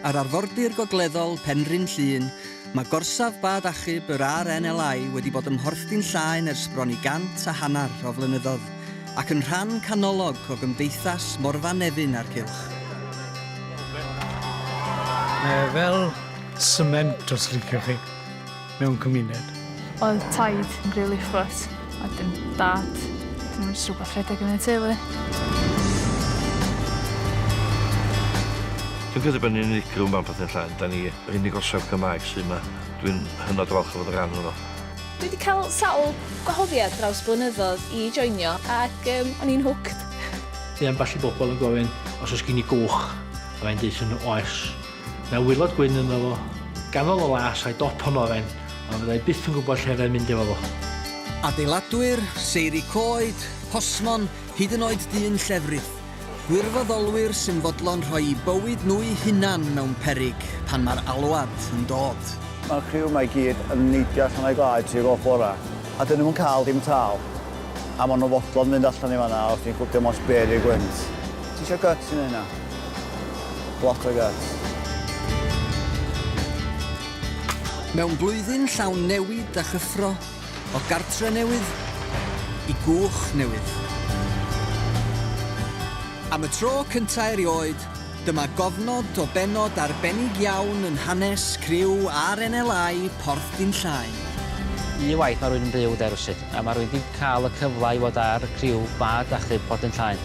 Ar arfordir gogleddol Penrhyn Llŷn, mae gorsaf bad achub yr RNLI wedi bod ym Mhorthdy'n Llaen ers bron i gant a hanner o flynyddoedd, ac yn rhan canolog o gymdeithas Morfa Nefyn a'r cylch. Mae e fel sment os liciwch chi. mewn cymuned. Oedd taid yn rili ffwt, a wedyn dad, dim ond jyst rwbath rhedeg yn y teulu. Dwi'n credu bod ni'n unigryw mewn pethau llain, da ni yr unig orsaf Cymraeg sydd yma. Dwi'n hynod falch o fod yn rhan ohono. Dwi wedi cael sawl gwahoddiad draws blynyddoedd i joinio ac um, o'n i'n hooked. Mae ambell i bobl yn gofyn os oes gen i gwch a mae'n dweud yn oes. Mae waelod gwyn ynddo fo, ganol y las a'i dop yn oren, ond fyddai byth yn gwybod lle fyddai'n mynd efo fo. Adeiladwyr, seiri coed, posmon, hyd yn oed dyn llefrith. Gwirfoddolwyr sy'n fodlon rhoi'u bywyd nhw'u hunan mewn peryg pan mae'r alwad yn dod. Mae'r criw 'ma i gyd yn neidio allan o'u gwlâu tuag o'r bora, a 'dyn nhw'm yn cael dim tâl. A maen nhw'n fodlon mynd allan i fan'na os ti'n gwybod dim ots be' 'di'r gwynt. Ti isio gyts i neud 'na? Bloc like that. Mewn blwyddyn llawn newid a chyffro, o gartre newydd i gwch newydd. Am y tro cynta' erioed, dyma gofnod o bennod arbennig iawn yn hanes criw RNLI Porth Dinllaen. Un waith mae rhywun yn byw de rywsut, a mae rhywun 'di cael y cyfle i fod ar criw bad achub Porth Dinllaen.